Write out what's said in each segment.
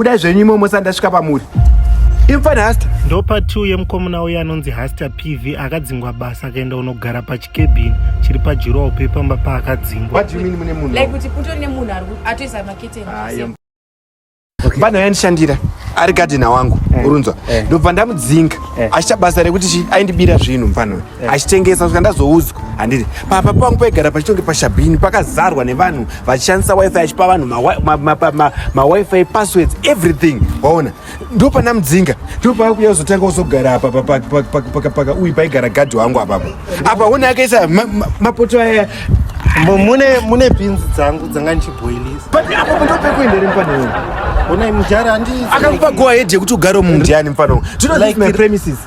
budai zvenyu imomo sati ndasvika pamuri imfana hasta ndopa two yemukomuna uye anonzi hasta pv akadzingwa basa akaenda unogara pachikebhini chiri pajurowo pepamba paakadzingwa mfana yandishandira ari gadhina wangu eh, urunzwa eh. ndobva ndamudzinga eh. achicha basa rekuti chi aindibira zvinhu mfana achitengesa kusvika ndazoudzwa handiti papa pangu paigara pachitonge pashabhini pakazarwa nevanhu vachishandisa wifi achipa vanhu mawifi passwords everything waona ndo pana mudzinga ndo paakuya kuzotanga kuzogara apa pakapaka uyu paigara gadhi wangu apapo apa one akaisa mapoto aya mune mune bhinzi dzangu dzanga ndichibhoilisa but apo ndo pekuenda ri mufana uyu onai mujara andi akakupa go ahead yekuti ugare mumdiani mufana uyu do you know like my premises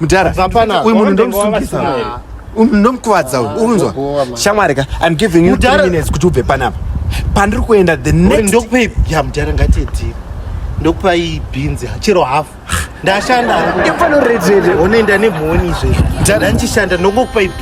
mudhara uyu munhu ndomusungisa ndomukuvadza uyu unzwa shamwari ka im giving you three minutes kuti ubve panapa pandiri kuenda the next ndokupa ipi ya mudhara ngatiedii ndokupa iyi bhinzi chero hafu ndashanda imfanoredere unoenda nemhoni izvezvo ndandishanda ndongokupa ipi